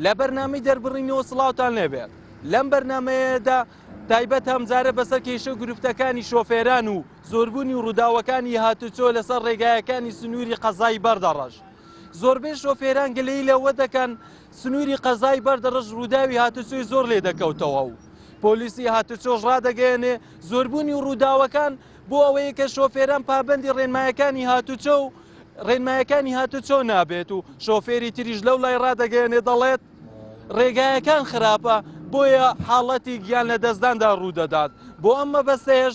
لە بەرنامی دەربڕینەوە سڵاوان لێبێت لەم بەرنمەیەدا تایبەت هەمزارە بەسەر کێشە و گرفتەکانی شۆفێران و زۆربوونی و ڕووداوەکانی هاتوچۆ لەسەر ڕێگایەکانی سنووری قەزایی بەردەڕەش زۆربەی شۆفێران گلەی لەوە دەکەن سنووری قەزای بەردەڕەش رووداوی هاتوچۆی زۆر لێدەکەوتەوە و پۆلیسی هاتوچۆش رادەگەیەنێ، زۆربوونی رووداوەکان بۆ ئەوەیە کە شۆفێران پابەندی رێنمایەکانی هاتوچۆ و رێنمایەکانی هاتوچۆ نابێت و شۆفێری تریش لەولای رادەگەیەنێ دەڵێت، رێگایەکان خراپە بۆیە حاڵەتی گیان لەدەستداندا روودەدات، بۆ ئەم مەبەستەیەش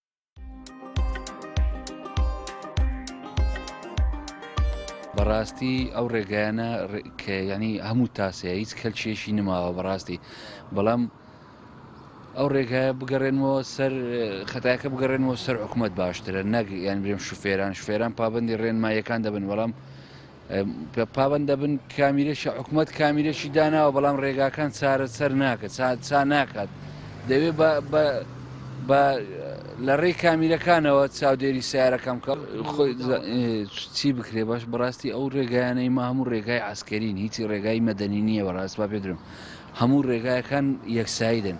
بەڕاستی ئەو ڕێگایانە کە ینی هەموو تاسەیە هیچ کەلکێشی نماوە بەڕاستی بەڵام ئەو ڕێگایە بگەڕێنەوە سەر خەتاکە بگەڕێنەوە سەر حکوومەت باشترە نەک یان برێم شوفێران شوفێران پابندی ڕێنمایەکان دەبن بەڵام پابەند دەبن کامیرەشی حکومت کامیرەشی داناوە بەڵام ڕێگاکان چارە سەر ناکە چا ناکات دەوێ بە لە ڕێی کامیرەکانەوە چاودێری سیارەکەم کە خۆی چی بکرێ باش بەڕاستی ئەو ڕێگایانەی ما هەموو ڕێگای ئاسکەرین هیچی ڕێگای مەدەنی نییە بەڕاست با پێدرم هەموو ڕێگایەکان یەکسایدن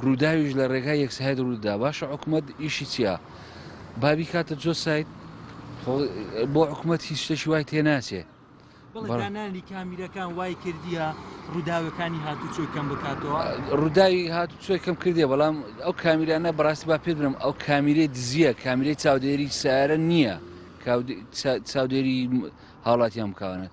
ڕووداویش لە ڕێگای یەکساید ڕوودا باشە حکومت ئیشی چییە؟ با بیکاتە جۆ سایت بۆ حکوومەت هیچ شتێکی وای تێ ناچێ بەڵدانانی کامیرەکان وای کردیە ڕووداوەکانی هاتوچۆی کەم بکاتەوە ڕووداوی هاتوچۆی کەم کردێ بەڵام ئەو کامیرانە بەڕاستی با پێ برم ئەو کامیرەی دزیە کامیرەی چاودێری سارە نییە چاودێری هاوڵاتیان بکوانێت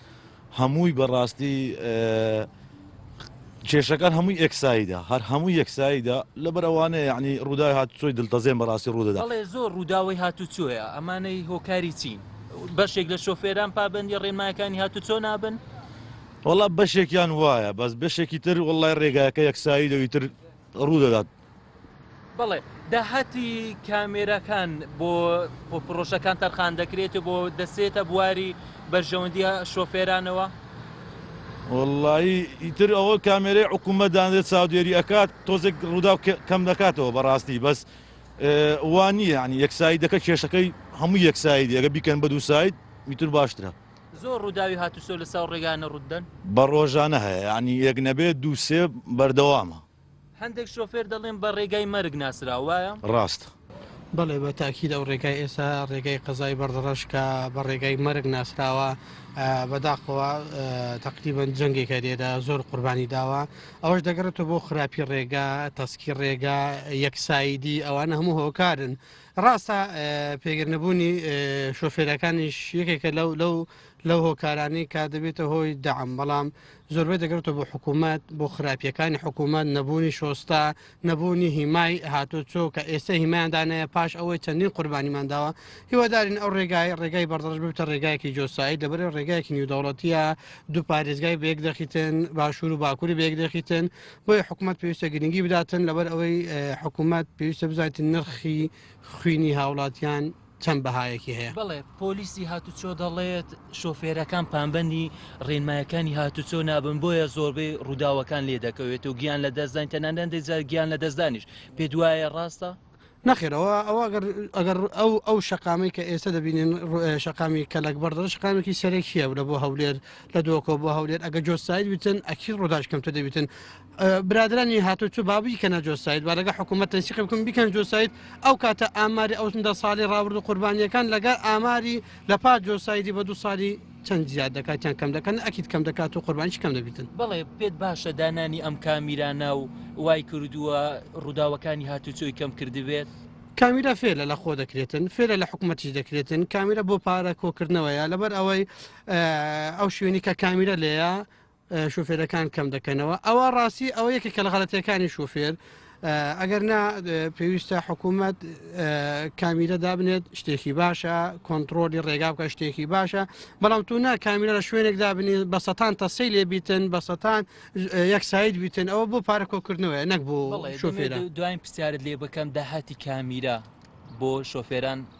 هەمووی بەڕاستی کێشەکان هەمووی ئێکسایدە هەر هەموو یەکسایدە لەبەر ئەوانەیە یعنی ڕووداوی هاتوچۆی دڵتەزێن بەڕاستی ڕوودەدا بەڵێ زۆر ڕووداوی هاتوچۆیە ئەمانەی هۆکاری چین بەشێک لە شۆفێران پابەندی ڕێنمایەکانی هاتوچۆ نابن وەڵا بەشێکیان وایە بەس بەشێکی تر وڵای ڕێگایەکە یەکسایدەوی تر ڕوودەدات بەڵێ داهاتی کامێراکان بۆ پرۆژەکان تەرخان دەکرێت و بۆ دەسێتە بواری بەرژەوەندیە شۆفێرانەوە وڵی ئیتر ئەوە کامێرەی حکوومەت دانێت چاودێری ئەکات تۆزێک ڕوودا کەم دەکاتەوە بەڕاستی بەس وانی ینی یەکسایی دەکە کێشەکەی هەموو یەکسایی دێگە بیکەن بە دوو سایت میتر باشترە زۆر ڕووداوی هاتوسۆ لە ساو ڕێگانە ڕوودن بە ڕۆژانە هەیە ینی یەک نەبێت دووسێ بەردەوامە هەندێک شۆفێر دەڵێن بە ڕێگای مەرگ ناسراو وایە؟ ڕاست. بەڵێ بە تاکید ئەو ڕێگای ئێسا ڕێگای قەزای بەڕدڕەش کە بە ڕێگای مەرگ ناسراوە بەداخەوە تەقریبەن جەنگێکە لێرە زۆر قوربانی داوە ئەوەش دەگەڕێتەوە بۆ خراپی ڕێگا تەسکی ڕێگا یەکسایدی ئەوان هەموو هۆکارن ڕاستە پێگرنەبوونی شۆفێرەکانیش یەکێکە لەو لەو لەو هۆکارانی کا دەبێتە هۆی دام بەڵام زۆربەی دەگەڕێتەوە بۆ حکوومەت بۆ خراپیەکانی حکوومەت نەبوونی شۆستا نەبوونی هیمای هاتۆ چۆ کە ئێستا هیمایاندانەیە پاش ئەوەی چەندین قوربانیمان داوە هیوادارین ئەو ڕێگای ڕێگای بەردەڕژ ببتە ڕێگایەکی جۆسایی دەبرێ ڕێگایەکی نیودەوڵەتیە دوو پارێزگای بەیەک دەخیتن باشوور و باکووری بەیەک دەخیتن بۆی حکوومەت پێویستە گرنگی بداتن لەبەر ئەوەی حکوومەت پێویستە بزانیت نرخی خوینی هاوڵاتیان چەند بەهایەکی هەیە؟ بەڵێ، پۆلیسی هاتوچۆ دەڵێت، شۆفێرەکان پابەندی رێنمایەکانی هاتوچۆ نابن، بۆیە زۆربەی رووداوەکان لێدەکەوێت و گیان لەدەستداین، تەنانەت هەندێک جار گیان لەدەستدانیش. پێتوایە راستە؟ نەخێر، ئەوە ئەوە ئەگەر ئەگەر ئەو ئەو شەقامەی کە ئێستا دەبینین رو شەقامی کەلەکبڕ دەڵێ شەقامێکی سەرەکییە لە بۆ هەولێر لە دۆکۆ بۆ هەولێر ئەگەر جۆسایت بیتن ئەکید روداش کەمتر دەبیتن برادرانی هاتو چ بابی کە نەجۆسایت و لەگە حکوومەت تەنسیقی بکەم بیکەن جۆسایت ئەو کاتە ئاماری ئەوسندە ساڵی ڕاورد و قوربانیەکان لەگە ئاماری لە پا جۆسایدی بە دو ساڵی چەند زیاد دەکاتیان کەم دەکەن ئەکییت کەم دەکات و قوربانش کەم دەبیتن بڵێ پێت باشە دانانی ئەم کامیرانە و وای کردووە ڕووداوەکانی هاتوچۆی کەم کردبێت. کامیرا فێلە لە خۆ دەکرێتن فێلە لە حکوومەتیش دەکرێتن کامیرە بۆ پارە کۆکردنەوەیە لەبەر ئەوەی ئەو شوێنی کە کامیرە لێە شوفێرەکان کەم دەکەنەوە ئەوە ڕاستی ئەوە یەکە کە لە غەڵەتەکانی شوفێر ئەگەر نا پێویستە حکوومەت کامیرە دابنێت شتێکی باشە کۆنتترۆلی ڕێگا بکە شتێکی باشە بەڵام تو نا کامیرە لە شوێنێک دابنی بە سەتان تەسەی لێ بیتن بە سەتان یەک ساید بیتن ئەوە بۆ پارە کۆکردنەوەە نەک بوو شوفێرە دوای پرسیارت لێ بکەم داهاتی کامیرە بۆ شۆفێران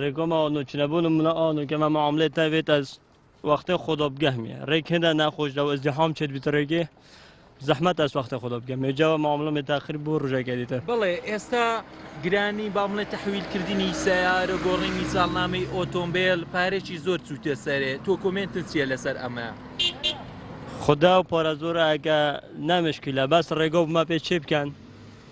ریکۆ ماوە نو چنە بونم منە ئا نو کەمە معاملێ تا وێت ئەز وەختێ خۆدۆ بگەهمێ ریک هێندە ناخۆش دەو ئەز دیحام چێت بیت ریکێ زەحمەت ئەس وەختێ خۆدۆ بگەمێ جاوە معاملە مێ تاخیر بوو ڕژێکێ دیتە بڵێ ئێستا گرانی با بڵێ تحویل کردنی سیارە گۆڕینی ساڵنامەی ئۆتۆمبیل پارێکی زۆر چوتێ سەرێ تۆ کۆمنت چیە لەسەر ئەمە خدا و پارە زۆرەکە نامشکیلە بەس ڕێگە بمە پێ چێ بکەن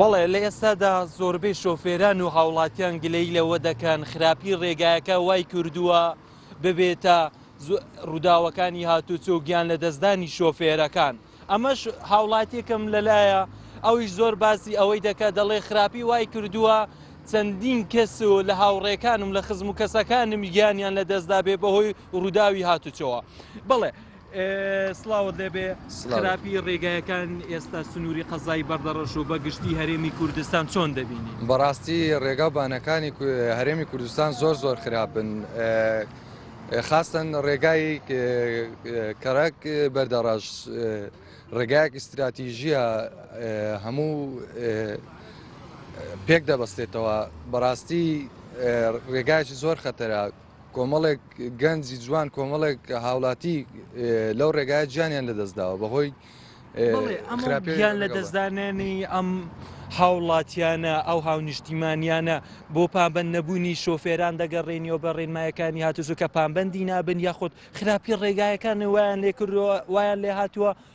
بەڵێ، لە ئێستادا زۆربەی شۆفێران و هاوڵاتیان گلەیی لەوە دەکەن خراپی ڕێگایەکە وای کردووە ببێتە ڕووداوەکانی هاتوچۆ و گیان لەدەستدانی شۆفێرەکان. ئەمەش هاوڵاتیەکەم لەلایە ئەویش زۆر باسی ئەوەی دەکات دەڵێ خراپی وای کردووە چەندین کەس و لە هاوڕێکانم لە خزم و کەسەکانم گیانیان لەدەستدا بێ بەهۆی ڕووداوی هاتوچۆوە. بەڵێ. سڵاوت لێ بێ خراپی ڕێگایەکان ئێستا سنووری قەزای بەردەڕەش و بەگشتی هەرێمی کوردستان چۆن دەبینی بەڕاستی ڕێگا و بانەکانی هەرێمی کوردستان زۆر زۆر خراپن خاستن ڕێگای کەڕک بەردەڕەش ڕێگایەک استراتیژیە هەموو پێک دەبەستێتەوە بەڕاستی ڕێگایکی زۆر خەتەرە کۆمەڵێک گەنجی جوان کۆمەڵێک هاوڵاتی لەو ڕێگای جیانیان لەدەستداوە بەهۆی خراپیان لە دەستدانێنی ئەم هاوڵاتیانە ئەو هاونیشتیمانیانە بۆ پابند نەبوونی شۆفێران دەگەڕێنیەوە بە ڕێنمایەکانی هاتوزوو کە پامبندی نابن یاخود خراپی ڕێگایەکان وایان لێکردووە وایان لێ هاتووە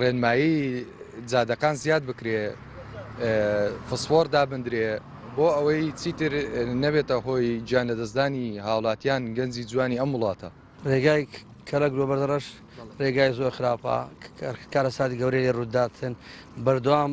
ڕێنمایی جادەکان زیاد بکرێ فسفۆڕ دابندرێ بۆ ئەوەی چیتر نەبێتە هۆی گیان لەدەستدانی هاوڵاتیان گەنجی جوانی ئەم وڵاتە. ڕێگای کەلەک بۆ بەردەڕەش ڕێگای زۆر خراپە کارەساتی گەورەی لێ ڕوودەداتن بەردەوام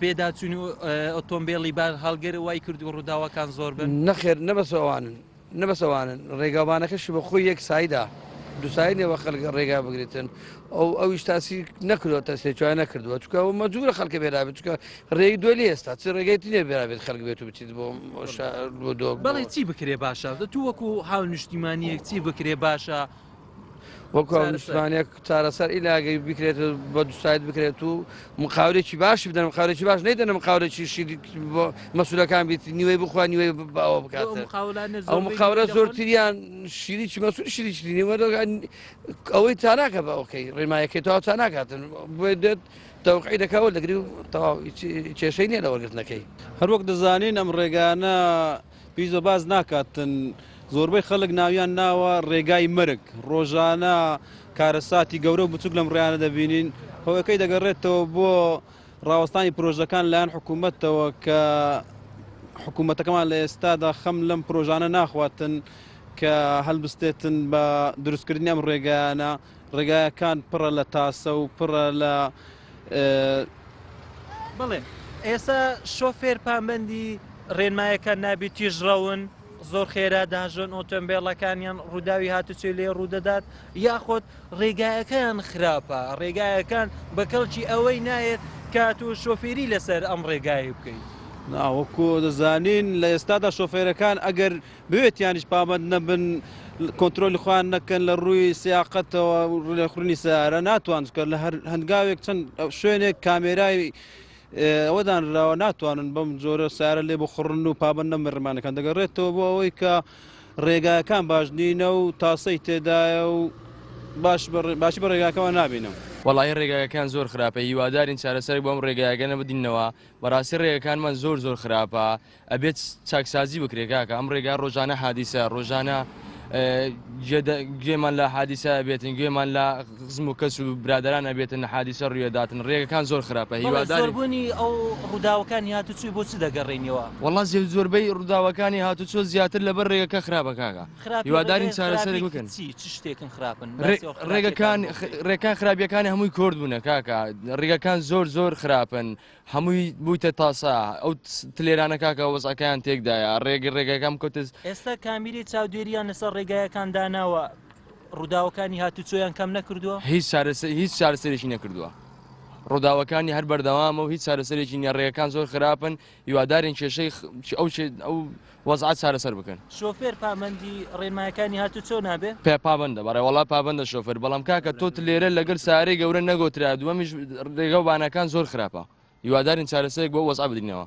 پێداچوونی ئۆتۆمبێلی بارهەڵگر وای کردو ڕووداوەکان زۆر بن نەخێر نەبەسەوانن نەبەسەوانن ڕێگاوبانەکەشی بە خۆی یەک سایدا دوسای نێوە خەلک ڕێگا بگرێتن ئەو ئەویش تاسی نەکردوە تەسێکوان نەکردووە چکە و مەجوورە خەلکە بێرابێت چکە ڕێی دوێ لە ئێستا چ ڕێگەی تینێ بێرابێت خەلک بێت و بچیت بۆ بەڵێ چی بکرێ باشە دە تو وەکو هاو نیشتیمانیەک چی بکرێ باشە وەکو نیشتمانێک چارەسەر ئیلاگەی بکرێت بە دوسایت بکرێت و مقاورێکی باش بدەن مقاورێکی باش نەیدەن مقاورێکی شیر بۆ مەسولەکان بیت نیوەی بخوا نیوەی باوە بکات ئەو مقاورە زۆرتریان شیریی مەسول شیریی نیوە ئەوەی تاراکە بە ئەوکەی ڕێمایەکەی تاوا تا ناکاتن بۆ دێت تەوقعی دەکەوە دەگری و تەواو کێشەی نیە لە وەرگرتنەکەی هەروەک دەزانین ئەم ڕێگانە پیزۆ باس ناکاتن زۆربەی خەلک ناویان ناوە رێگای مەرگ رۆژانە کارەساتی گەورە و بچوک لەم ڕیانە دەبینین هۆەکەی دەگەڕێتەوە بۆ ڕاوەستانی پرۆژەکان لایەن حکوومەتەوە کە حکوومەتەکەمان لە ئێستادا خەم لەم پرۆژانە ناخواتن کە هەلبستێتن بە دروستکردنی ئەم ڕێگەیانە ڕێگایەکان پڕە لە تاسە و پڕە لە. بەڵێ ئێستا شۆفێر پامبەندی ڕێنمایەکان نابی تیژ ڕەون زۆر خێرا داژۆن ئۆتۆمبێڵەکانیان ڕووداوی هاتوچۆی لێ ڕوودەدات یاخۆت ڕێگایەکان خراپە ڕێگایەکان بە کەڵکی ئەوەی نایەت کات و شۆفێری لەسەر ئەم ڕێگایی بکەیت. ناوەکو دەزانین لە ئێستادا شۆفێرەکان ئەگەر بوێت یانیش پابەند نەبن کۆنترۆلی خۆیان نەکەن لە ڕووی سیاقەتەوە ڕێخورنی سارە ناتوان کە لە هەر هەنگاوێک چەند شوێنێک کامێرای ئەوەدان راوە ناتوانن بەم جۆرە سارە لێ بخڕن و پابەن نەمە ڕمانەکان دەگەڕێتەوە بۆ ئەوەی کە ڕێگاکان باش نینە و تاسەی تێدایە و باش باشی بە ڕێگاکەەوە نابینم. وەڵی ڕێگاگەکان زۆر خراپە هیوادارین چارەسەرێک بۆم ڕێگایگەنە بدینەوە بەڕاستی ڕێگەکانمان زۆر زۆر خراپە ئەبێت چاکسازی بکرێ کاکە ئەم ڕێگا ڕۆژانە حادیسە ڕۆژانە گوێمان لە حادیسە بێتن گوێمان لە خزم و کەس و برادران ئەبێتن حادیسە ڕوێداتن ڕێگەکان زۆر خراپە هیواداربوونی ئەو ڕووداوەکانی هاتوچوی بۆ چ دەگەڕێنیەوە وڵا زێ زۆربەی ڕووداوەکانی هاتوچۆ زیاتر لەبەر ڕێگەکە خراپە کاکە هیوادارین چارەسەر بکەن چ شتێکن خراپن ڕێگەکان ڕێکان خراپیەکانی هەمووی کۆرد بوونە کاکە ڕێگەکان زۆر زۆر خراپن. هەمووی بوویتە تاسە ئەو تلێرانە کاکە وەزعەکەیان تێکدایە ڕێگر ڕێگەکە بکەوتز. ئێستا کامیرەی چاودێرییان لەسەر ڕێگایەکان داناوە، ڕووداوەکانی هاتووچۆیان کەم نەکردووە؟ هیچ چارەسەر هیچ چارەسەرێکی نەکردووە، ڕووداوەکانی هەر بەردەوامە و هیچ چارەسەرێکی نییە، ڕێگەکان زۆر خراپن، هیوادارین کێشەی ئەو ئەو وەزعە چارەسەر بکەن. شۆفێر پامەندی ڕێنمایەکانی هاتوچۆ نابێ؟ پێ پابەندە بەڕێ وەڵا پابەندە شۆفێر بەڵام کاکە تۆت لێرە لەگەل سارەی گەورە نەگۆترا دووەمیش رێگەو بانەکان زۆر خراپە هیوادارین چارەسەرێک بۆ وەزعە بدرینەوە.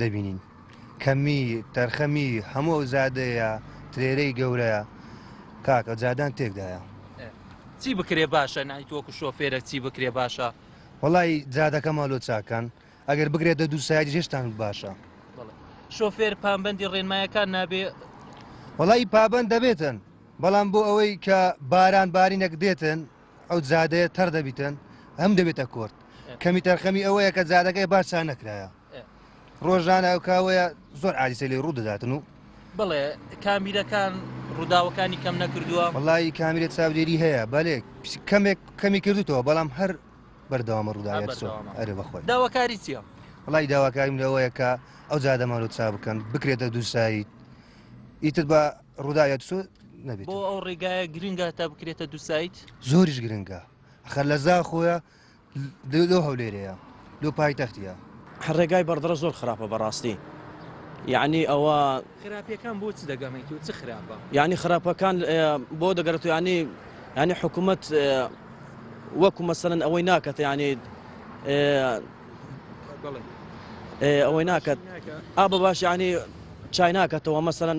دەبینین کەمی تەرخەمی هەموو ئەو زادەیە ترێرەی گەورەیە کاکە جادان تێکدایە چی بکرێ باشە نایتوەکو شۆفێرە چی بکرێ باشە وڵی جادەکە مالۆ چاکان ئەگەر بگرێت دە دوو سایدی هێشتان باشە شۆفێر پامبندی ڕێنمایەکان نابێ وڵی پابند دەبێتن بەڵام بۆ ئەوەی کە باران بارینەک دێتن ئەو جادەیە تەڕ دەبیتن ئەم دەبێتە کۆرت کەمی تەرخەمی ئەوەیە کە جادەکەی باشا نەکرایە ڕۆژانە ئەو کاوەیە زۆر ئالیسە لێ ڕوودەداتن و بڵێ کامیرەکان ڕووداوەکانی کەم نەکردووە وڵی کامیرە چاودێری هەیە بەێک کەمێک کەمی کردوتەوە بەڵام هەر بەردەوامە ڕووداوە ئەرێ بەخۆی داواکاری چیە؟ وڵی داواکاریم لەوەیە کە ئەو جادەمان و چا بکەن بکرێتە دووسایی ئیتر بە ڕوودا یادسۆ نەبێت بۆ ئەو ڕێگایە گرنگە تا بکرێتە دو سایت زۆریش گرنگە خەر لە زا خۆیە لۆ هەولێرەیە لۆ پای تەختە ڕێگای بەردڕە زۆر خراپە بەڕاستی یعنی ئەوە خراپەکان بۆ چ دەگەمێکی و چ خراپە یعنی خراپەکان بۆ دەگەرێت و ینی ینی حکوومەت وەکو مەسەن ئەوەی ناکەێت ینی ئەوەی ناکات ئا بە باش ینی چای ناکەتەوە مەسەن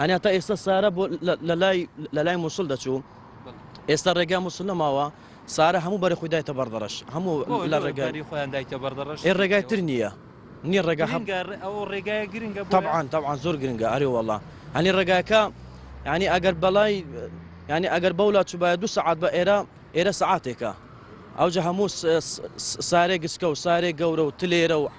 هەنێ تا ئێستا سارا بۆ لەلای لەلای مووسڵ دەچوو ئێستا ڕێگا مووسڵ نەماوە سارا هەموو بەرە خۆی دایتە بەردەڕەش هەموو لە ڕێگاری خۆیان دایتە بەردەڕەش ئێ ڕێگای تر نییە نییە ڕێگا هەمگار ئەو ڕێگای گرنگە تەعاان تەعاان زۆر گرنگە ئەرێ وڵا هەنی ڕێگاکە ینی ئەگەر بەڵای ینی ئەگەر بەولا چوبایە دو سعات بە ئێرە ئێرە سعاتێکە ئەوجە هەموو سارێ گسکە و سارێ گەورە و تلێرە و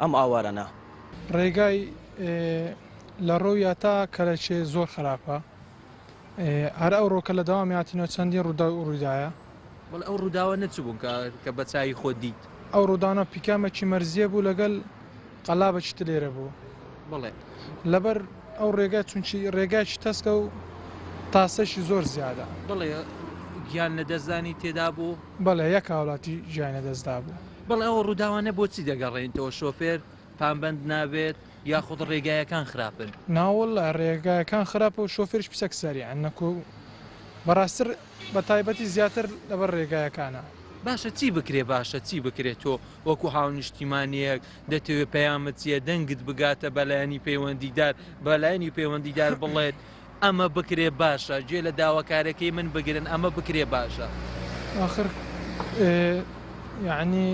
ئەم ئاوارەنە. ڕێگای لە ڕۆیا تا کەرەچێ زۆر خراپە هەر ئەو ڕۆکە لە دەوامی هاتینەوە چەندین ڕوداو ڕویدایە. بەڵێ ئەو ڕوداوە نە چ بوون کە بە چاوی خۆت دیت؟ ئەو ڕوداونە پیکامەکی مەرزیە بوو لەگەل قەلابەکی تر لێرە بوو. بەڵێ. لەبەر ئەو ڕێگای چونکی ڕێگایەکی تەسکە و تاسەیشی زۆر زیادە. بەڵێ گیان لە دەست دانی تێدا بوو؟ بەڵێ یەک هاولاتی گیانی لە دەست دابوو. بەڵێ ئەو ڕووداوانە بۆچی دەگەڕێنیتەوە، شۆفێر پابەند نابێت یاخود ڕێگایەکان خراپن؟ ناوەڵلا ڕێگایەکان خراپە و شۆفێریش پسک سەریعە نەکۆ و بەڕاستتر بەتایبەتی زیاتر لەبەر ڕێگایەکانە. باشە چی بکرێ باشە چی بکرێ تۆ وەکو هاونیشتیمانیەک دەتەوێ پەیامت چیە دەنگت بگاتە بەلایەنی پەیوەندیدار بەلایەنی پەیوەندیدار بڵێت ئەمە بکرێ باشە گوێ لە داواکارەکەی من بگرن ئەمە بکرێ باشە. ئاخر یانی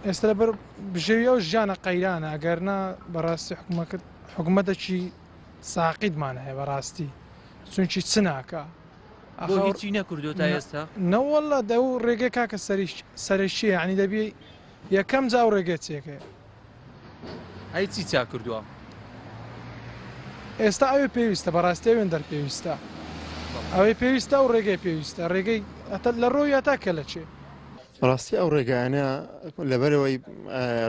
ئێستا لەبەر بژێوی ئەو ژیانە قەیرانە ئەگەرنا بەڕاستی حکومە کرد حکوومەتەکی ساقیتمان هەیە بەڕاستی چونکی چ ناکە هیچی نەکردو تا ئێستا نەوەله دە و ڕێگە کاکە سەریش سەرشیە عنی دەبی یەکەم جاو ڕێگەچێکە ئەی چی چا کردوە. ئێستا ئەوێ پێویستە بەڕاستی ئەوێندەر پێویستە ئەوەی پێویستە و ڕێگەی پێویستە ڕێگەی ئەتە لە ڕۆی ئەتا کە لە چێ. بەڕاستی ئەو ڕێگایانە لەبەرەوەی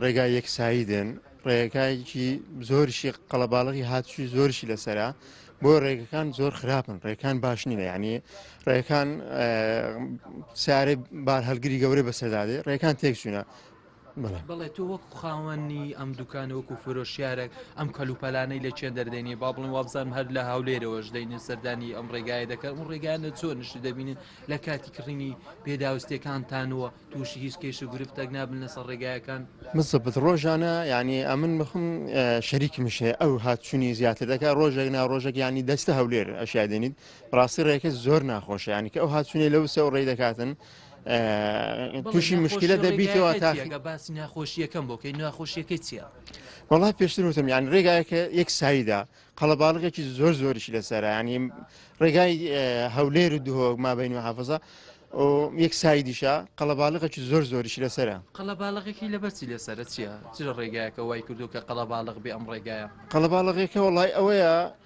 ڕێگای یەکسایی دێن ڕێگایکی زۆرشی قەڵەباڵغی هاتووی زۆرشی لەسرە بۆ ڕێگەکان زۆر خراپن ڕێکان باش نینە ینی ڕێکان سارێ بار هەلگری گەورە بەسەدادێ ڕێکان تێکچوونە بەڵێ تۆ وەکو خاوەنی ئەم دوکانە وەکو فرۆشیارێک ئەم کەلوپەلانەی لە چێن دەردێنی با بڵێن وابزان هەر لە هاولێرەوەش دەینێ سەردانی ئەم ڕێگایە دەکەن و ڕێگانە چۆن نیشتی دەبینن لە کاتی کڕینی پێداوستەکانتانەوە تووشی هیچ کێش و گرفتەک نابن لەسەر ڕێگایەکان مزبت ڕۆژانە ینی ئەمن بخم شەریکی مشێ ئەو هاتچوونی زیاتر دەکە ڕۆژێک نا ڕۆژێک ینی دەستە هەولێر ئەشیادێنیت ڕاستی ڕێکە زۆر ناخۆشە ینی کە ئەو هاتچوونی لەو سێ ڕێ دەکاتن تووشی مشکلە دەبیتەوە تاگە باسی ناخۆشیەکەم بۆکەی ناخۆشیەکەی چیە وڵا پێشتر وتم یان ڕێگایەکە یەک سایدا قەڵەباڵغێکی زۆر زۆریش لەسەرانی ڕێگای هەولێر و دهۆک مابین و حافظە یەک سایدیشە قەڵەباڵغێکی زۆر زۆریش لەسرە قەڵەباڵغێکی لە بەرچی لەسرە چیە چرە ڕێگایەکە وای کردو کە قەڵەباڵغ بێ ئەم ڕێگایە قەڵەباڵغێکە وڵای ئەوەیە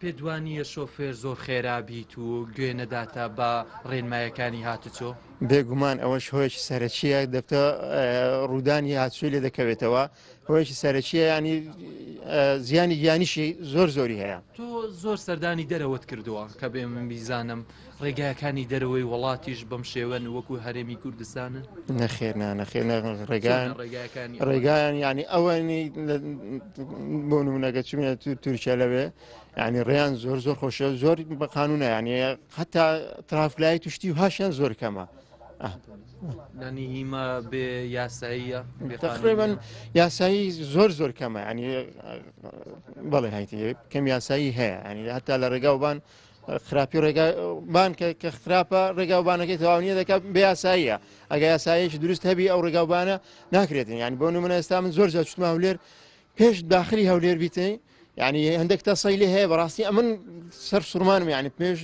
پێت وانییە شۆفێر زۆر خێرا بیت و گوێ نەداتە بە ڕێنمایەکانی هاتوچۆ؟ بێگومان ئەوەش هۆیەکی سەرەکییە دەبتە ڕوودانی هاتوچۆی لێ دەکەوێتەوە هۆیەکی سەرەکیە ینی زیانی گیانیشی زۆر زۆری هەیە. تۆ زۆر سەردانی دەرەوەت کردووە کە بێ من بیزانم ڕێگاکانی دەرەوەی وڵاتیش بەم شێوەن وەکو هەرێمی کوردستانن نەخێر نانەخێ ڕێگان ڕێگاکانی ڕێگایان ینی ئەوەنی بۆ نمونەگە چمە تورکیا لەوێ ینی ڕێیان زۆر زۆر خۆشە زۆر بە قانونە ینی حتا ترافلای توشتی و هاشیان زۆر کەمە. نانی هیما بێ یاساییە بێخڕێبن یاسایی زۆر زۆر کەمە ینی بەڵێ هایتی کەم یاسایی هەیە ینی هەتا لە ڕێگاوبان خراپی ڕێگا بانکە کە خراپە ڕێگاوبانەکەی تەواونیە دەکات بێ یاساییە ئەگە یاسایەکی دروست هەبی ئەو ڕێگاوبانە ناکرێتن یعنی بۆ نمونە ئێستا من زۆر جاچتما هەولێر پێش داخلی هەولێر بیتەی یعنی هەندێک تاسای لێ هەیە بەڕاستی ئەمن سەر سوورمانم یعنی پێش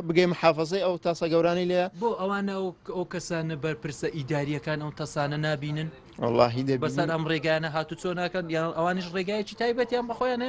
بگەی محافظەی ئەو تاسا گەورانی لێ بۆ ئەوانە ئەو کەسانە بەرپرسە ئیداریەکان ئەو تەسانە نبینن واللهی دە بەسەر ئەم ڕێگانە هاتو چۆ ناکەن یان ئەوانش ڕێگایکی تایبەتیان بەخۆیانە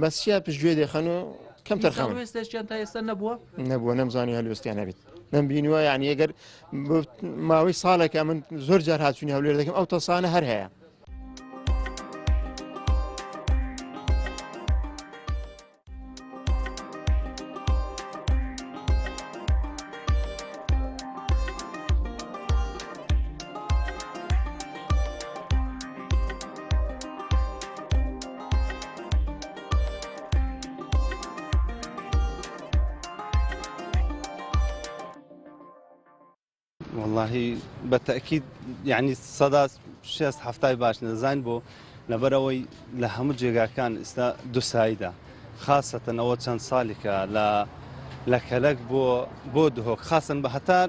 بەس چیا پشت گوێ دێخەن و کەم تەرخان هەلوێستێکیان تا ئێستا نەبووە نەبووە نەمزانی هەلوێستیان نەبێت من بینوە یعنی ئەگەر ماوەی ساڵێکە من زۆر جار هاچوونی هەولێر دەکەم ئەو تەسانە هەر هەیە وەڵاهی بە تەکیید یعنی سەدا شێست هەفتای باش نەزان بۆ لەبەرەوەی لە هەموو جێگاکان ئستا دوساییدا خاصەتەنەوە چەند ساڵێکە لە لە کەلک بۆ بۆ دهۆک خاصن بە هەتار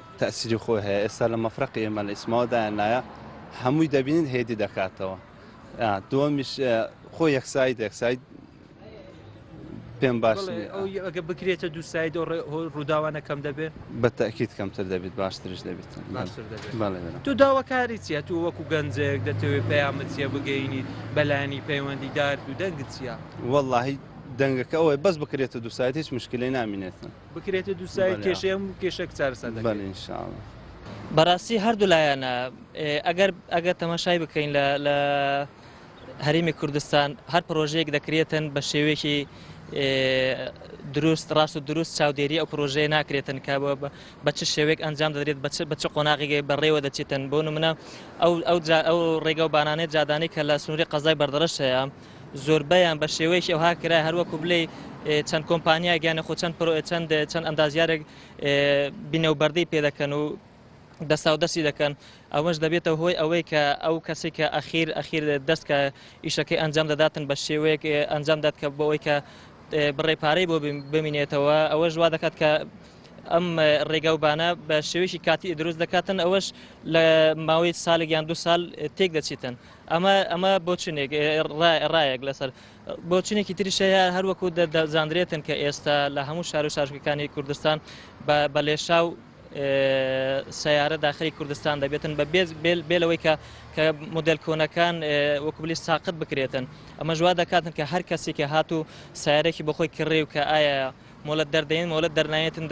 تەئسیری خۆی هەیە ئێستا لە مەفرەقی ئێمە لە ئیسماوە دایاننایە هەمووی دەبینن هێدی دەکاتەوە دووەمیش خۆ یەکسایی دەکسایی پێم باش ئەگە بکرێتە دوو ساید ڕووداوانە کەم دەبێت بە تاکییت کەمتر دەبێت باشترش دەبێت تو داواکاری چیە تو وەکو گەنجێک دەتەوێت پەیامە چیە بگەینیت بەلانی پەیوەندی دارد و دەنگ چیە واللهی دەنگەکە ئەوەی بەس بکرێتە دوو ساید هیچ مشکلی نامینێتن بکرێتێ دوو سایت کێشەی هەموو کێشەک چارەسەر دەکرێت. بەڵێ ان شاء اللە. بەڕاستی هەردوو لایەنە ئەگەر ئەگەر تەماشای بکەین لە هەرێمی کوردستان هەر پرۆژەیەک دەکرێتن بە شێوەیەکی دروست ڕاست و دروست چاودێری ئەو پرۆژەیە ناکرێتن کە بە چ شێوێک ئەنجام دەدرێت بە چ قۆناغیگەی بەڕێوە دەچێتن بۆ منە ئەو ئەو ئەو ڕێگە و بانانێت جادانی کە لە سنووری قەزای بەردەڕش هەیە زۆربەیان بە شێوەیەکی ئەوها کرایە هەر وەکو بلێی چەند کۆمپانیایەک یانە خۆ چەند پرۆ چەند چەند ئەندازیارێک بینە و بەردەی پێ دەکەن و دەسا و دەستی دەکەن ئەوەش دەبێتە هۆی ئەوەی کە ئەو کەسی کە ئەخیر ئەخیر دەست کە ئیشەکەی ئەنجام دەداتن بە شێوەیەک ئەنجام دات کە بۆەوەی کە بڕێ پارەی بۆ بمینێتەوە ئەوەش وا دەکات کە ئەم ڕێگا و بانە بە شێوەیەکی کاتی دروست دەکاتن ئەوەش لە ماوەی سالێک یان دو سال تێک دەچیتن ئەمە ئەمە بۆچونێک ڕایەک لەسەر بۆچونێکی تریش هەیە هەروەکو دەزانرێتن کە ئێستا لە هەموو شار و شارشکەکانی کوردستان بە لێشا و سیارە داخلی کوردستان دەبێتن بە بێز بێلەوەی کە کە مدل کۆنەکان وەکوبلی ساقت بکرێتن ئەمە جووا دەکاتن کە هەر کەسی کە هات و سیارێکی بەخۆی کڕێ و کە ئایا مۆلت دەردەین مۆلت دەرنایەتن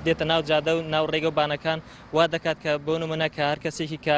دێتە ناو جادە و ناو ڕێگە و بانەکان وا دەکات کە بۆ نمونە کە هەر کەسێکی کە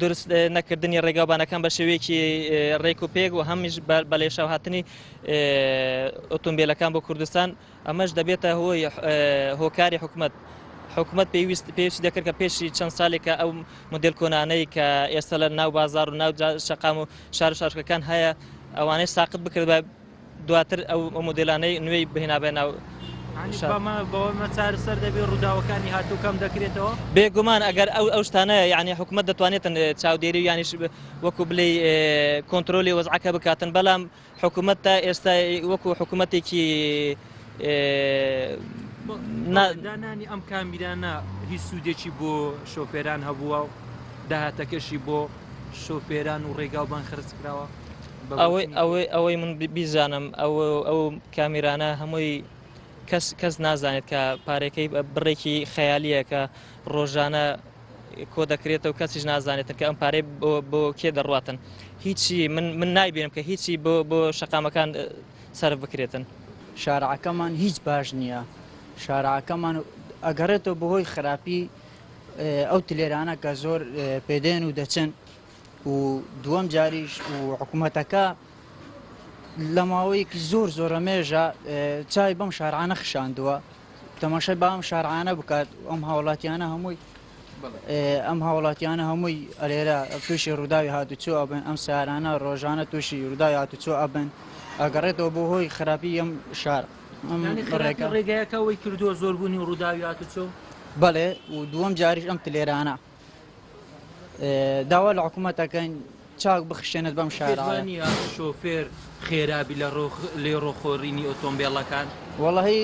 دروست نەکردنی ڕێگاوبانەکان بە شێوەیەکی ڕێک و پێک و هەمیش بە لێشاوهاتنی ئۆتۆمبیلەکان بۆ کوردستان ئەمەش دەبێتە هۆی هۆکاری حکومت حکومت پێویست پێویستی دەکرد کە پێشی چەند سالێکە ئەو مدل کۆنانەی کە ئێستا لە ناو بازار و ناو شقام و شار و شارکەکان هەیە ئەوانەی ساقت بکرد بە دواتر ئەو مۆدێلانەی نوێی بهێنابێ ناو بەوەمە چارەسەر دەبێ ڕووداوەکانی هاتوو کەم دەکرێتەوە بێگومان ئەگەر ئەو ئەو شتانە یعنی حکوومەت دەتوانێتن چاودێری یانیش وەکو بلی کۆنتترۆلی وەزعەکە بکاتن بەڵام حکوومەت تا ئێستا وەکو حکوومەتێکی دانانی ئەم کامیرانە هیچ سوودێکی بۆ شۆفێران هەبووە و داهاتەکەشی بۆ شۆفێران و ڕێگا و بان خرج کراوە ئەوەی ئەوەی من بیزانم ئەو کامیرانە هەمووی کەس کەس نازانێت کە پارێکەی بڕێکی خەیالیەکە ڕۆژانە کۆ دەکرێتەوە کەسیش نازانێتن کە ئەم پارەی بۆ کێ دەڕاتن هیچی من من نایبێنم کە هیچی بۆ بۆ شەقامەکان سەر بکرێتن شارعەکەمان هیچ باش نییە شارعەکەمان ئەگەڕێتەوە بەهۆی خراپی ئەو تلێرانە کە زۆر پێدێن و دەچن و دووەم جاریش و حکوومەتەکە لە ماوەیەکی زۆر زۆرە مێژە چای بەم شارعانە خشاندووە تەماشای بام شارعانە بکات ئەم هاوڵاتیانە هەمووی ئەم هاوڵاتیانە هەمووی ئەلێرە تووشی ڕووداوی هاتوچۆ ئەبن ئەم سارانە ڕۆژانە تووشی ڕووداوی هاتوچۆ ئەبن ئەگەڕێتەوە بۆ هۆی خراپی ئەم شار ڕێگەکە ڕێگایەکەەوەی کردووە زۆربوونی ڕووداوی هاتوچۆ بەڵێ و دووەم جاریش ئەم تلێرانە داوا لە حکوومەت دەکەین چاک بخشێنێت بەم شارانی شۆفێر خێرابی لە ڕۆخ لێ ڕۆخۆرینی ئۆتۆمبیلەکان وەڵی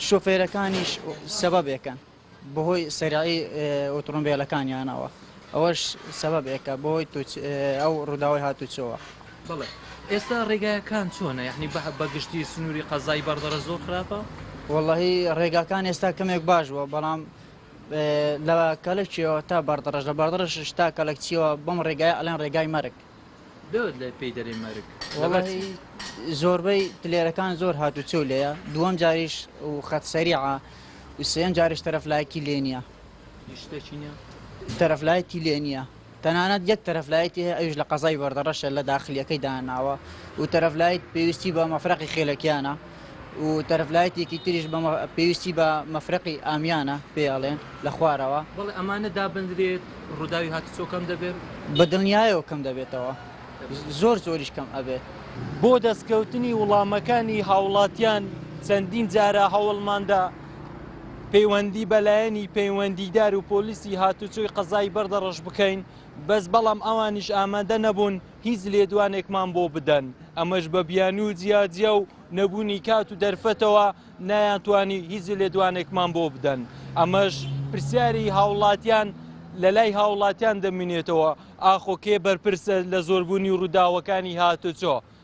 شۆفێرەکانیش سەبەبێکەن بەهۆی سەرایی ئۆتۆمبیلەکانیانەوە ئەوەش سەبەبێکە بۆی ئەو ڕووداوی هاتوچەوە بڵێ ئێستا ڕێگایەکان چۆنە یعنی بە بەگشتی سنووری قەزای بەردەڕە زۆر خراپە وەڵی ڕێگاکان ئێستا کەمێک باش بووە بەڵام لە کەلەکچیەوە تا بەردڕەش لە بەردڕەشش تا کەلەکچیەوە بەم ڕێگایە ئەڵێن ڕێگای مەرگ. دەوت لە پێی دەرێ مەرگ وەڵاهی زۆربەی تلێرەکان زۆر هاتو چۆ لێە دووەم جاریش و خەت سەریعە وسێن جاریش تەرەفلایەکی لێ نییە تەرەفلایەتی لێ نییە. تەنانەت یەک تەرەف لایتی هەیە ئەویش لە قەزای بەردەڕەشە لە داخلیەکەی داناوە و تەرەف لایت پێویستی بە مەفرەقی خێلەکیانە و تەرەف لایتێکی تریش بە پێویستی بە مەفرەقی ئامیانە پێ ئەڵێن لە خوارەوە بەڵێ ئەمانە دابندرێت ڕووداوی هاتوچۆ کەم دەبێت؟ بە دڵنیایەوە کەم دەبێتەوە زۆر زۆریش کەم ئەبێت. بۆ دەستکەوتنی وڵامەکانی هاوڵاتیان چەندین جارە هەوڵماندا. پەیوەندی بە لایەنی پەیوەندیدار و پۆلیسی هاتوچۆی قەزای بەردەڕەش بکەین بەس بەڵام ئەوانیش ئامادە نەبوون هیچ لێدوانێکمان بۆ بدەن ئەمەش بە بیانوو و جیاجیا و نەبوونی کات و دەرفەتەوە نایانتوانی هیچ لێدوانێکمان بۆ بدەن ئەمەش پرسیاری هاوڵاتیان لە لای هاوڵاتیان دەمینێتەوە ئاخۆ کێ بەرپرسە لە زۆربوونی ڕووداوەکانی هاتوچۆ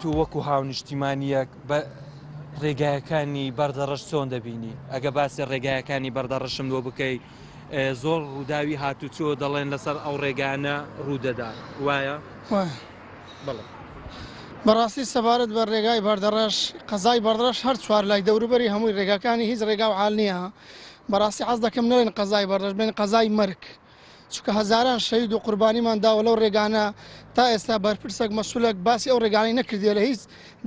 تۆ وەکو هاونیشتیمانیەک بە ڕێگایەکانی بەردەڕەش چۆن دەبینی ئەگە باسی ڕێگایەکانی بەردەڕەشم لۆ بکەی زۆر ڕووداوی هاتوچۆ دەڵێن لەسەر ئەو ڕێگانە ڕوودەدا وایە بەڕاستی سەبارەت بە ڕێگای بەردەڕەش قەزای بەڕەش هەر چوار لای دەوروبەری هەمووی ڕێگاکانی هیچ ڕێگا و حال نییە بەڕاستی حەز دەکەم نەڵێن قەزای بەڕەش بڵێن قەزای مەرگ چونکە هەزاران شەهید و قوربانیمان داوە لەو ڕێگانە تا ئێستا بەرپرسێک مەسولەک باسی ئەو ڕێگانەی نەکردێ لە هیچ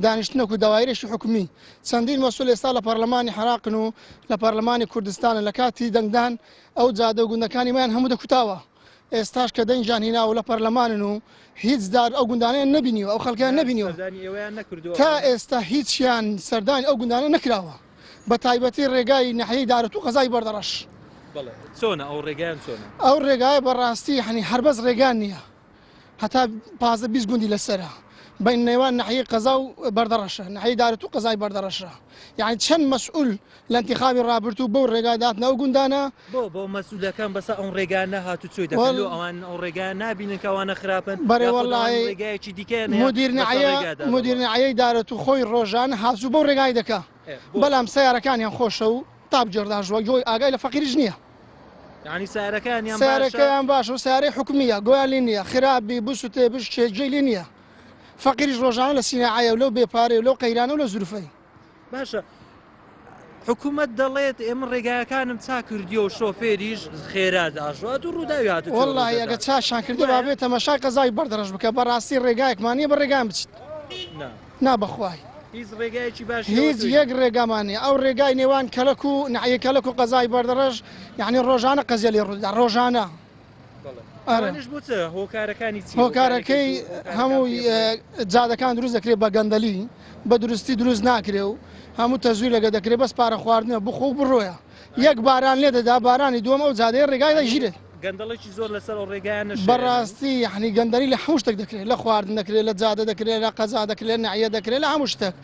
دانیشتنەک و داوایرێکی حکومی چەندین مەسول ئێستا لە پەرلەمانی حراقن و لە پەرلەمانی کوردستانە لە کاتی دەنگدان ئەو جادە و گوندەکانی میان هەموو دەکوتاوە ئێستاش کە دەنگیان هینا و لە پەرلەمانن و هیچ دار ئەو گوندانیان نبینیوە ئەو خەڵکیان نبینیوە تا ئێستا هیچیان سەردانی ئەو گوندانە نکراوە بە تایبەتی ڕێگای ناحیەی دارەت و قەزای بەردەڕەش چۆنە ئەو ڕێگەیان چۆنە ئەو ڕێگایە بەڕاستی هەنی هەربەز ڕێگان نییە هەتا پازە بیست گوندی لەسرە بین نێوان ناحیەی قەزا و بەردەڕەشە ناحیەی دارەت و قەزای بەردەڕەشە یعنی چەند مەسئول لە انتخابی ڕابرد و بەو ڕێگا داتنەوە گوندانە بۆ بۆ مەسولەکان بەسە ئەو ڕێگا نەهات و چۆی دەکەن لۆ ئەوان ئەو ڕێگا نابینن کەوانە خراپن بەێ وەڵی ڕێگایەکی دیکە مدیرنەعەیەی دارێت و خۆی ڕۆژان هازوو بۆ ڕێگای دەکە بەڵام سیارەکانیان خۆشە و تاپ جێرداژوە گۆی ئاگای لە فەقیرش نییە ینی سارەکان سارەکەیان باش و سارەی حکومیە گۆیان لی نییە خراپبی بسوتێ بشتێ جێلی نییە فەقیریش ڕۆژانە لە سینەعاە و لەو بێپارێ و لەو قەیرانە و لە زروفەی باشە حکوومەت دەڵێت ئێمە ڕێگاکانم چا کردیەوە و شۆفێریش خێرا داژات و ڕووداوی هات وڵی ئەگە چاشان کردی با بێت تەمەشا قەزای بەردەڕژ بکە بەڕاستی ڕێگایەکمانە بە ڕێگان بچیت نا بەخوای هیچ ڕێگایکی باش هیچ یەک ڕێگامانە ئەو ڕێگای نێوان کەلک و نعە کەلک و قەزای بەردەڕژ یعنی ڕۆژانە قەزیێلی ڕوودا ڕۆژانە. هۆکارەکەی هەموو جادەکان دروست دەکرێت بە گەندەلی بە درستی دروست ناکرێ و هەموو تەزوی لەگە دەکرێت بەس پارە خواردنە بخۆ بڕۆیە یەک باران لێ دەدا بارانی دووەم ئەو جادەیە ڕێگای دەژیرێت گەندەڵێکی زۆر لەسەر ڕێگایان بەڕاستی یحنی گەندەری لە حوشتێک دەکرێت لە خواردن دەکرێت لە جادە دەکرێت لە قەزا دەکرێت نعە دەکرێت لە هەموو شتێک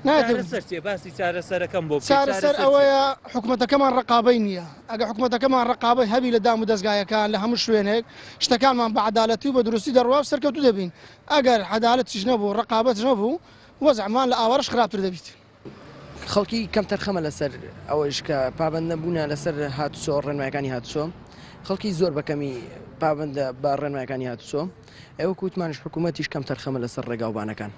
ناتێ باسی چارەسەرەکەم بۆ چارەسەر ئەوەیە حکوومەتەکەمان ڕقابەی نییە ئەگەر حکومەتەکەمان رەقابەت هەبی لە دام و دەزگایەکان لە هەموو شوێنێک شتەکانمان بە عەدالەتی و بە دروستی دەڕوا و سەرکەوتوو دەبین، ئەگەر عەدالەتیش نەبوو رەقابەتش نەبوو وەزعمان لە ئاوارەش خراپتر دەبیت. خەڵکی کەمتەرخەمە لەسەر ئەوەیش کە پابەند نەبوونە لەسەر هاتوچۆ رێنمایەکانی هاتوچۆ، خەڵکی زۆر بە کەمی پابەندە بە رێنمایەکانی هاتوچۆ، ئەوەکو وتمانیش حکومەتیش کەمتەرخەمە لەسەر رێگاوبانەکان.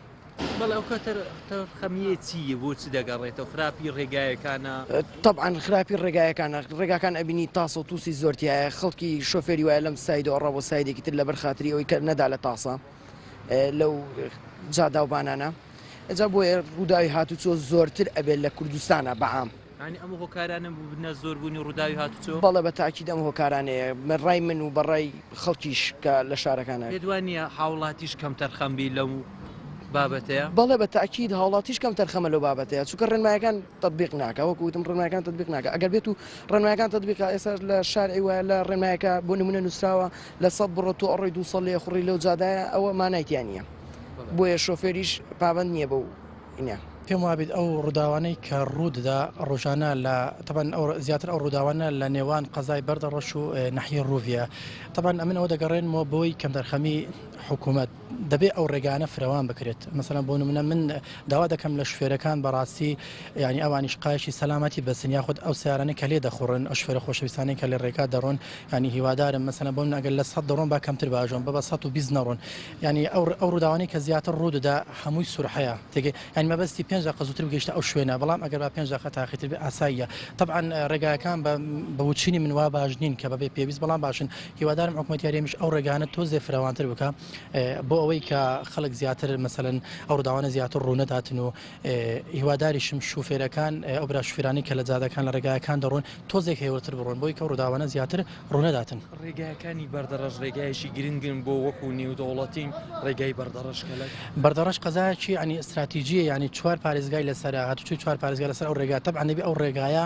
تەبعەن خراپی ڕێگایەکانە، ڕێگاکان ئەبینی تاسە و تووسی زۆر تایە، خەڵکی شۆفێری وایە لەم سایدە ئەڕا بۆ سایدێکی تر لەبەر خاتری ئەوەی کە نەدا لە تاسە لەو جاداوبانانە، ئەجا بۆیە ڕووداوی هاتووچۆ زۆرتر ئەبێت لە کوردستانە بەعام. یانی ئەم هۆکارانە بووبنە زۆربوونی ڕووداوی هاتوچۆ؟ بەڵێ بە تاکید ئەم هۆکارانەیە بە ڕای من و بە ڕای خەڵکیش کە لە شارەکان هەن. پێت وا نییە هاوڵاتیش کەمتەرخەم بی لەو بابەتەیە؟ بەڵێ بە تاکید هاوڵاتیش کەمتەرخەمە لەو بابەتەیە چونکە ڕێنمایەکان تەتبیق ناکا وەکو وتم ڕێنمایەکان تەتبیق ناکا ئەگەر بێتو ڕێنمایەکان تەتبیق کا ئێستا لە شارعی وایە لە ڕێنمایەکە بۆ نمونە نووسراوە لە سەد بڕۆ تۆ ئەڕۆی دوو سەد لێخوڕی لەو جادایە ئەوە مانای تیا نییە بۆیە شۆفێریش پابەند نییە بەو نیە. پێم وابیت ئەو ڕوداوانەی کە ڕوو دەدا ڕۆژانە لە تەبەن زیاتر ئەو ڕوداوانە لە نێوان قەزای بەردە ڕەش و نەحی ڕوویە تەبەن ئەمن ئەوە دەگەڕێنمەوە بۆی کەمدەرخەمی حکوومەت دەبێت ئەو ڕێگانە فرەوان بکرێت مەسەن بۆ منە من داوا دەکەم لە شوێرەکان بەڕاستی ینی ئەوانیش قایشی سەلامەتی بەسن یاخود ئەو سیارانە کە لێ دەخوڕن ئەو شوێرە خۆشەویستانی کە لە ڕێکا دەڕۆن ینی هیوادارم مەسەن بۆ من ئەگەر لە سەد دەڕۆن با کەمتر باژۆن بە بە 120 نەڕۆن یانی ئەو ئەو ڕووداوانەی کە زیاتر ڕوو دەدا هەمووی سورحەیە تێگەی یانی مەبەستی پێنج دەقە زووتر بگەیشتە ئەو شوێنە بەڵام ئەگەر با پێنج دەقە تاخیرتر بێ ئاساییە تەبعەن ڕێگاکان بە بە وچینی من وا باش نین کە بەبێ پێویست بەڵام باشن هیوادارم حکومەتی هەرێمیش ئەو ڕێگانە تۆزێ فراوانتر بکا بۆ ئەوەی کە خەڵک زیاتر مەسەلەن ئەو ڕووداوانە زیاتر ڕوو نەداتن و هیواداریشم شوفێرەکان ئەو برا شوفێرانەی کە لە جادەکان لە ڕێگایەکان دەڕۆن تۆزێک هێورتر بڕۆن بۆی کە ڕووداوانە زیاتر ڕوونەداتن. ڕێگایەکانی بەردەڕەش ڕێگایەکی گرنگن بۆ وەکو نێودەوڵەتین ڕێگای بەردەڕەش کەلەک. بەردەڕەش قەزایەکی یانی ئستراتیجیە یانی چوار پارێزگای لەسەرە هاتوچۆی چوار پارێزگا لەسەر ئەو ڕێگا تەبعەن دەبێ ئەو ڕێگایە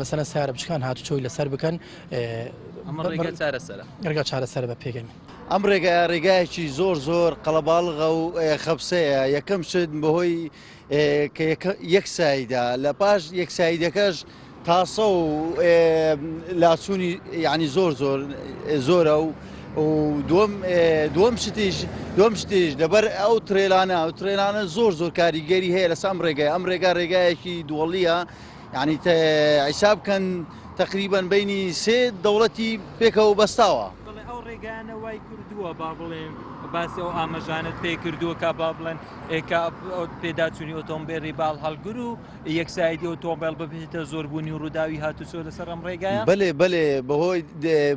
مەسەلەن سەیارە بچکان هاتوچۆی لەسەر بکەن ئەمە ڕێگا چارەسەرە ڕێگا چارەسەرە بە پێگەی من. ئەم ڕێگایە ڕێگایەکی زۆر زۆر قەڵەباڵغە و خەبسەیە یەکەم شت بەهۆی کە یەکساییدا لە پاش یەکساییدەکەش تاسە و لاچوونی یعنی زۆر زۆر زۆرە و دوم شتیش دوم شتیش لەبەر ئەو ترێلانە ئەو ترێلانە زۆر زۆر کاریگەری هەیە لەسام ڕێگای ئەم ڕێگا ڕێگایەکی دووەڵیە یانی حیساب بکەن تەقریبەن بینی سێ دەوڵەتی پێکەوە بەستاوە ئەو ڕێگانە وای کردووە با بڵێن باسی ئەو ئامەژانت پێ کردووە کا با بڵێن ئێکا پێداچوونی ئۆتۆمبێری باڵ هەڵگر و یەکسایدی ئۆتۆمبیل ببێتە زۆربوونی و ڕووداوی هاتوچۆ لەسەر ئەم ڕێگایە بلێ بلێ بەهۆی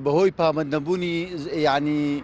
بەهۆی پامەند نەبوونی ینی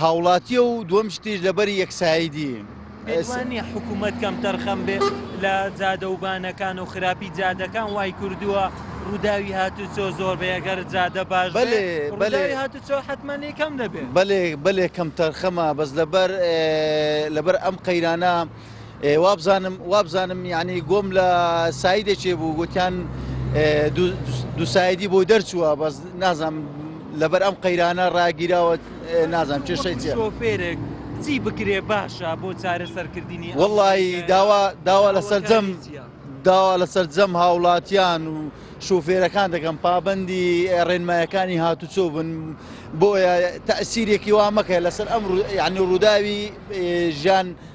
هاوڵاتیە و دووەم شتیش لەبەری یەکسایدی. پێتوا نییە حکوومەت کەمتەرخەم بێت لە جادەوبانەکان و خراپی جادەکان وای کردووە ڕووداوی هاتوچۆ زۆر بێ گەر جادە باش بەێ بەێ هاتوچۆ حتممەنی کەم دەبێت بەێ بەێ کەمتەرخەمە بەس لەبەر لەبەر ئەم قەیرانە وابزانم وابزانم یانی گۆم لە سایدێکێ بوو گوتیان دوسایدی بۆ دەرچووە بەس نازم لەبەر ئەم قەیرانە ڕاگیراوە نازم چێشەی چێفێرێک چی بکرێ باشە بۆ چارە سەرکردنی وڵی داوا داوا لە سەرجەم داوا لە سەرجەم هاوڵاتیان و شوفێرەکان دەکەم پابندی ڕێنمایەکانی هاتوچۆ بن بۆیە تەسیرێکی وا مەکە لەسەر ئەم یعنی ڕووداوی ژیان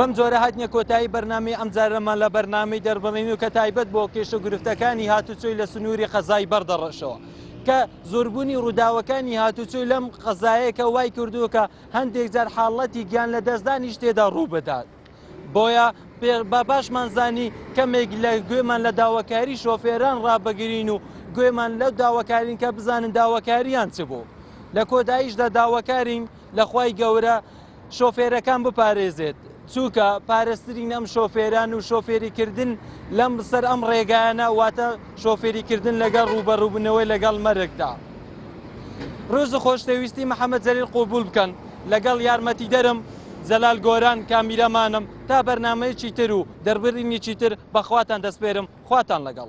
بەم جۆرە هاتینە کۆتایی بەرنامەی ئەمجارەمان لە بەرنامەی دەربڕین و کە تایبەت بۆ کێشە گرفتەکانی هاتوچۆی لە سنووری قەزای بەردەڕەشەوە کە زۆربوونی ڕووداوەکانی هاتوچۆی لەم قەزایەکە وای کردووە کە هەندێک جار حاڵەتی گیان لە دەستدانیش تێدا ڕوو بدات بۆیە بە باشمان زانی کەمێک لە گوێمان لە داواکاری شۆفێران ڕابگرین و گوێمان لەو داواکارین کە بزانن داواکاریان چ بوو لە کۆداییشدا داواکارین لە خوای گەورە شۆفێرەکان بپارێزێت چووکە پارسترین ئەم شۆفێران و شۆفێری کردن لەم سەر ئەم ڕێگایانە واتە شۆفێری کردن لەگەڵ ڕوبەڕوبنەوەی لەگەڵ مەرگدا ڕۆز خۆشتەویستی محەممەد جەلیل قوبول بکەن لەگەڵ یارمەتی دەرم جەلال گۆران کامیرەمانم تا بەرنمەیەکی تر و دەربرینی چیتر بەخواتان دەستپێرم خواتان لەگەڵ